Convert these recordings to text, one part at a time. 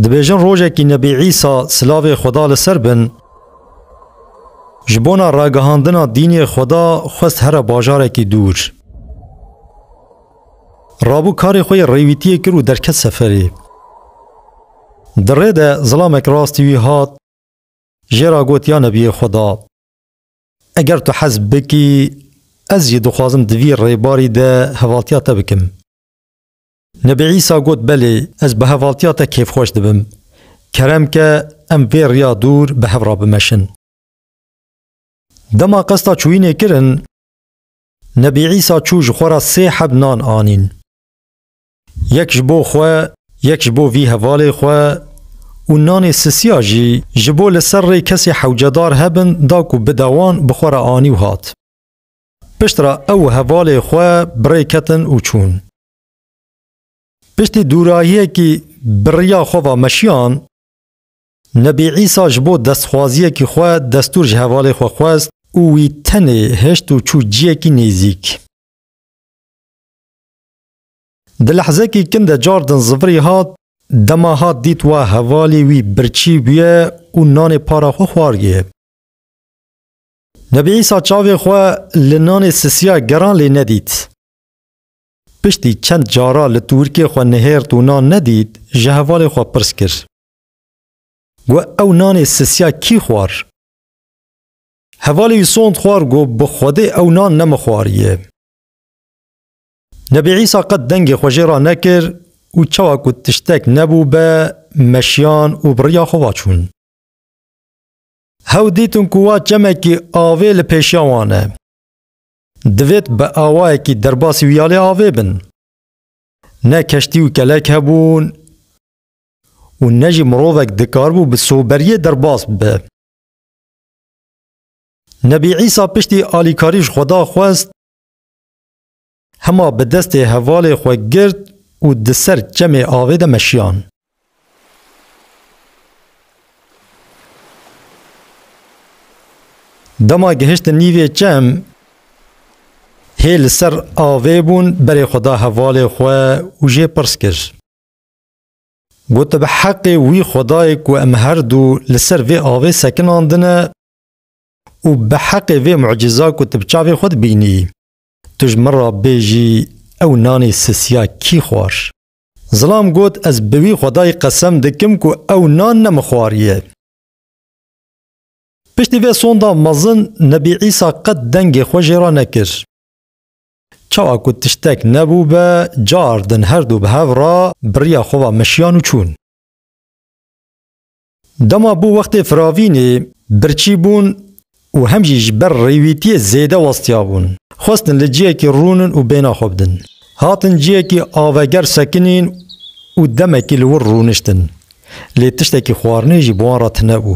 Dibêjin rojekî Nebî Îsa silavê Xweda li ser bin ji bona ragihandina dînê Xweda xwest here bajarekî dûr. Rabû karê xwe yê rêwîtiyê kir û derket seferê. Di rê de zilamek rastî wî hat jê ra got ya Nebiyê Xweda. Eger tu hez bikî, ez jî dixwazim di vî rêbarî de hevaltiya te bikim. Nebî Îsa got, Belê, ez bi hevaltiya te kêfxweş dibim. Kerem ke em vê riya dûr bi hev re bimeşin. Dema qesta çûyînê kirin, Nebî Îsa çû ji xwe re sê heb nan anîn. Yek ji bo xwe, yek ji bo vî hevalê xwe û nanê sisiya jî ji bo li ser rê kesê hewcedar hebin da ku bide wan bi xwe re anî û hat. Pişt re ew û hevalê xwe bi rê ketin û çûn. Piştî dûrahiyekî bi riya xwe ve meşiyan, Nebî Îsa ji bo destxwaziyekî xwe destûr ji hevalê xwe xwest û wî tenê hişt û çû ciyekî nêzîk. Di lehzekî kin de car din zivirî hat, dema hat dît wa hevalî wî birçî bûye û nanê para xwe xwariye. Nebî Îsa çavê xwe li nanê sisiya geran lê nedît. Piştî çend cara li tûrkê xwe nihêrt û nan nedît, ji hevalê xwe pirs kir. Got, Ew nanê sisiya kî xwar? Hevalê wî sond xwar got, Bi Xwedê ew nan ne min xwariye. Nebî Îsa qet dengê xwe jê ranekir û çawa ku tiştek nebû be, meşiyan û bi riya xwe va çûn. Hew dîtin ku wa çemekî avê li pêşiya wan e. Divêt bi awayekî derbasî wiyalê avê bin. Ne keştî û kelek hebûn û ne jî mirovek dikaribû bi soberiyê derbas bibe. Nebî Îsa piştî alîkarî ji Xweda xwest Hema bi destê hevalê xwe girt û di ser çemê avê de meşiyan. Dema gihiştin nîvê çem, hê li ser avê bûn, berê xwe da hevalê xwe û jê pirs kir. Got bi heqê wî xwedayê ku em her du li ser vê avê sekinandine, û biheqê vê mucîza ku tu bi çavên xwe dibînî. Tu ji min re bêjî ew nanê sisiya kî xwar? Zilam got, Ez bi wî xwedayî qesem dikim ku ew nan ne min xwariye. Piştî vê sonda mezin Nebî Îsa qet dengê xwe jê re nekir. Çawa ku tiştek nebû be, cardin herdu bi hev re biriya xwe ve meşiyan û çûn. Dema bû wextê firavînê, birçî bûn û hem jî ji ber rêwîtiyê zêde westiya bûn. Xwestin li ciyekî rûnin û bêhna xwe bidin. Hatin ciyekî aveger sekinîn û demekî li wir rûniştin. Lê tiştekî xwarinê jî bi wan re tune bû.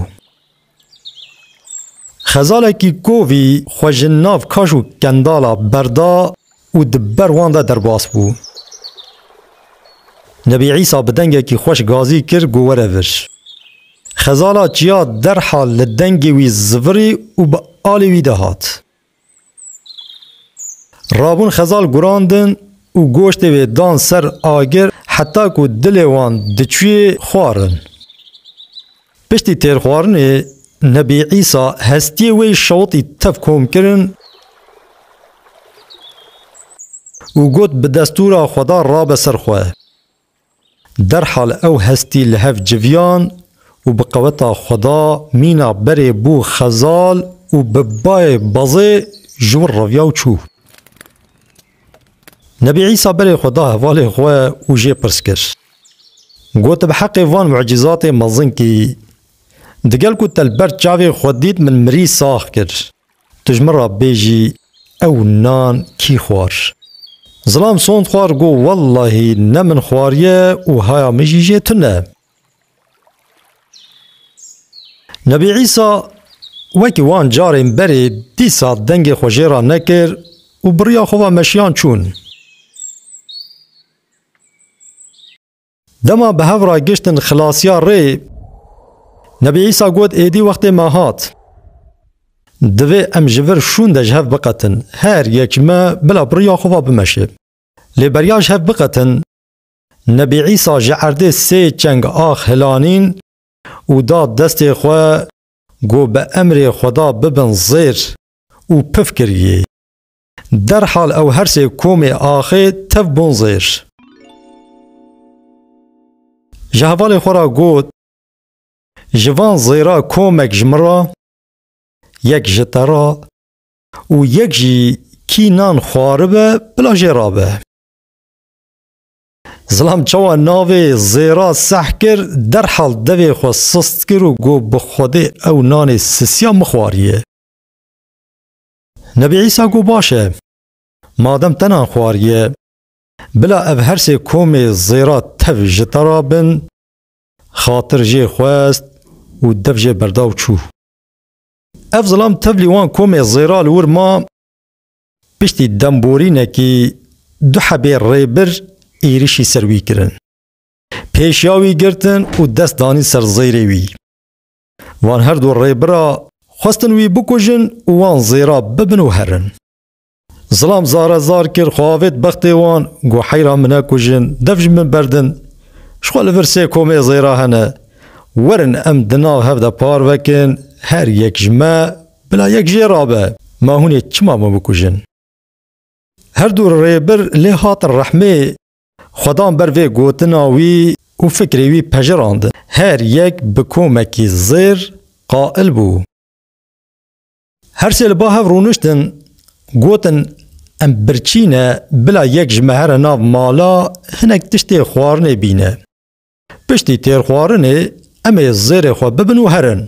Xezalekî kovî xwe ji nav kaş û kendala berda. û di ber wan de derbas bû. Nebî Îsa bi dengekî xweş gazî kir ku were vir. Xezala çiya derhal li dengê wî zivirî û bi alê wî de hat. Rabûn xezal gurandin û goştê wê dan ser agir heta ku dilê wan diçûyê xwarin. Piştî têrxwarinê Nebî Îsa hestiyê wê şewitî tev kom kirin û got bi destûra Xweda rabe ser xwe. Derhal ew hestî li hev civiyan û bi qeweta Xweda mîna berê bû xezal û bi bayê bazê ji wir reviya û çû. Nebî Îsa berê xwe da hevalên xwe û jê pirs kir. Got, Bi heqê van mucîzatê mezin kî, digel ku te li ber çavê xwe dît min mirî sax kir, tu ji min re bêjî ew nan kî xwar? Zilam sond xwar got, Wellahî ne min xwariye û haya min jî jê tune. Nebî Îsa wekî wan carên berê dîsa dengê xwe jê re nekir û bi riya xwe ve meşiyan çûn. Dema bi hev re giştin xilasiya rê, Nebî Îsa got êdî wextê me hat. Divê em ji vir şûn de ji hev biqetin. Her yek ji me bila bi riya xwe ve bimeşe. Lê beriya ji hev biqetin, Nebî Îsa ji erdê sê çeng ax hilanîn û da destê xwe got bi emrê Xweda bibin zêr û pif kiriyê. Derhal ew her sê komê axê tev bûn zêr. Ji hevalê xwe re got, Ji van zêra komek ji min re, yek ji te re û yek jî kî nan xwaribe bila jê re be. Zilam çawa navê zêra seh kir, derhal devê xwe sist kir û got bi Xwedê ew nanê sisiya mixwariye. Nebî Îsa got baş e, madem te nan xwariye, bila ev her sê komê zêra tev ji te re bin, xatir jê xwest û dev jê berda û çû. Ev zilam tevlî wan komê zêra li wir ma, Piştî demborînekî du hebê rêbir êrîşî ser wî kirin. Pêşiya wî girtin û dest danîn ser zêrê wî. Van her du rêbira xwestin wî bikujin û wan zêra bibin û herin. Zilam zare zar kir xwe avêt bextê wan got heyra min nekujin, dev ji min berdin. Ji xwe li vir sê komê zêra hene. Werin em di nav hev de parvekin, her yek ji me Bila yek jê rabe, ma hûn ê çima min bikujin? Her du rêbir lê hatin rehmê xwe dan ber vê gotina wî û fikrê wî pejirandin. Her yek bi komekî zêr qail bû. Her sê li ba hev rûniştin, gotin em birçî ne, bila yek ji me here nav mala hinek tiştê xwarinê bîne. Piştî têrxwarinê em ê zêrê xwe bibin û herin.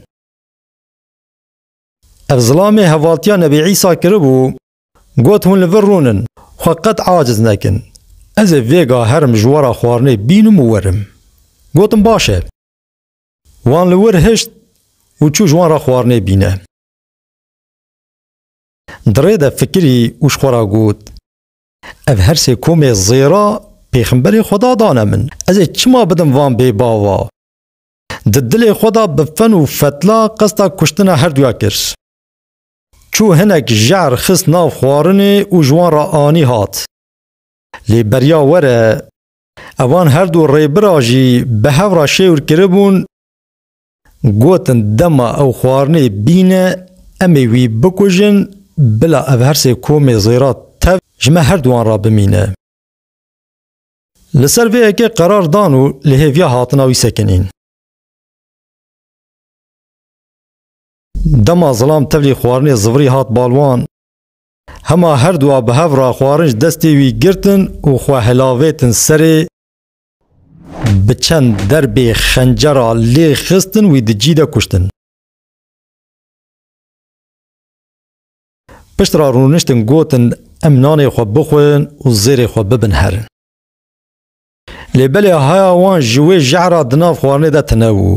Ev zilamê hevatiya Nebî Îsa kiribû, got hûn li vir rûnin, xwe qet aciz nekin. Ez ê vêga herim ji wara xwarinê bînim û werim. Gotim baş e. Wan li wir hişt û çû ji wan re xwarinê bîne. Di rê de fikirî û ji xwe re got, Ev her sê komê zêra pêxemberê Xweda dane min. Ez ê çima bidim van bêbava? Di dilê xwe de bi fen û fetla qesta kuştina herduya kir. Çû hinek jehr xist nav xwarinê û ji wan re anî hat. Lê beriya were, evan herdu rêbira jî bi hev re şêwir kiribûn, gotin dema ew xwarinê bîne em ê wî bikujin bila ev her sê komê zêra tev ji me herduwan re bimîne. Li ser vê yekê qerar dan û li hêviya hatina wî sekinîn. Dema zilam tevlî xwarinê zivirî hat bal wan, hema her du a bi hev re xwarin ji destê wî girtin û xwe hilavêtin serê, bi çend derbê xencera lê xistin wî di cî de kuştin. Pişt re rûniştin gotin em nanê xwe bixwin û zêrê xwe bibin herin. Lê belê haya wan ji wê jehr re di nav xwarinê de tine bû.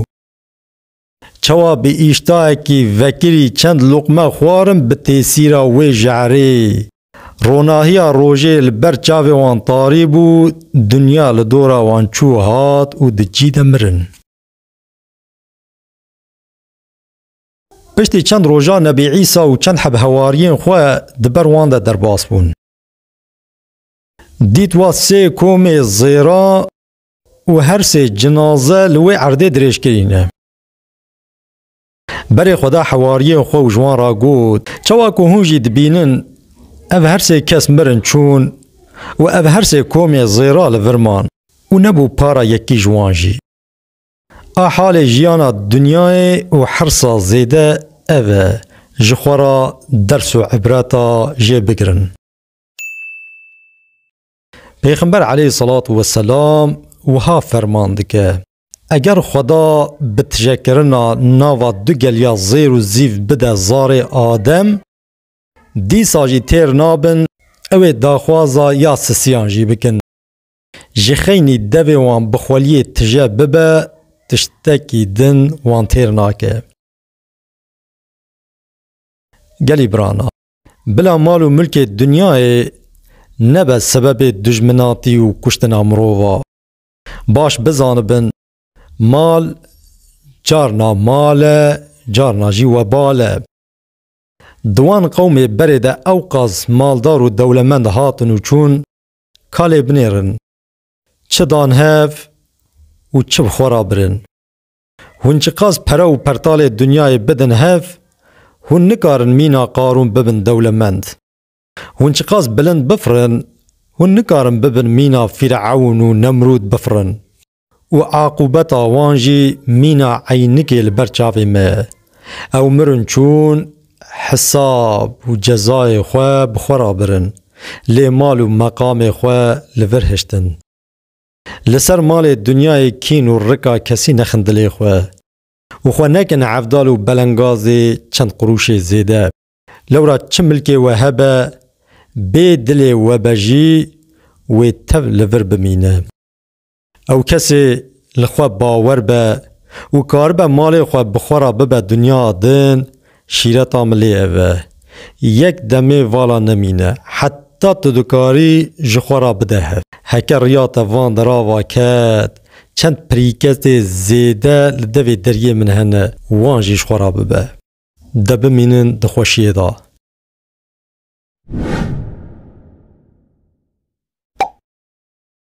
Çawa bi îştahekî vekirî çend luqme xwarin bi têsîra wê jehrê. Ronahiya rojê li ber çavê wan tarî bû, dinya li dora wan çû hat û di cî de mirin. Piştî çend rojan Nebî Îsa û çend heb hewariyên xwe di ber wan de derbas bûn. Dît wa sê komê zêra û her sê cinaze li wê erdê dirêj kirîne. Berê xwe da hewariyên xwe û ji wan re got, Çawa ku hûn jî dibînin, ev her sê kes mirin çûn û ev her sê komê zêra li vir man û nebû para yekî ji wan jî. A halê jiyana dinyayê û hirsa zêde ev e, ji xwe re ders û îbreta jê bigirin. Pêxember eleyh selat we selam wiha ferman dike, Eger Xweda bi tijekirina nava du geliya zêr û zîv bide zarê Adem, dîsa jî têr nabin ew ê daxwaza ya sisiyan jî bikin. Ji xeynî devê wan bi xweliyê tije bibe tiştekî din wan têr nake. Gelî birana, bila mal û milkê dinyayê nebe sebebê dijminatî û kuştina mirova. Baş bizanibin mal carna mal e, carna jî webal e. Di wan qewmê berê de ewqas maldar û dewlemend hatin û çûn, ka lê binêrin çi dan hev û çi bi xwe re birin. Hûn çiqas pere û pertalê dinyayê bidin hev, hûn nikarin mîna Qarûn bibin dewlemend. Hûn çiqas bilind bifirin, hûn nikarin bibin mîna Fîrewn û Nemrûd bifirin. Û eqûbeta wan jî mîna eynikê li ber çavê me ye. Ew mirin çûn hisab û cezayê xwe bi xwe re birin, lê mal û meqamê xwe li vir hiştin. Li ser malê dinyayê kîn û rika kesî nexin dilê xwe û xwe nekin hevdal û belengazê çend qurûşê zêde. Lewra çi milkê we hebe, bê dilê we be jî wê tev li vir bimîne. Ew kesê li xwe bawer be û karibe malê xwe bi xwe re bibe dinya din, şîreta mi lê ev e. Yek demê vala nemîne, heta tu dikarî ji xwe re bide hev. Heke riya te van derava ket, çend pirîketê zêde li devê deriyê min hene, wan jî ji xwe re bibe. De bimînin di xweşiyê de.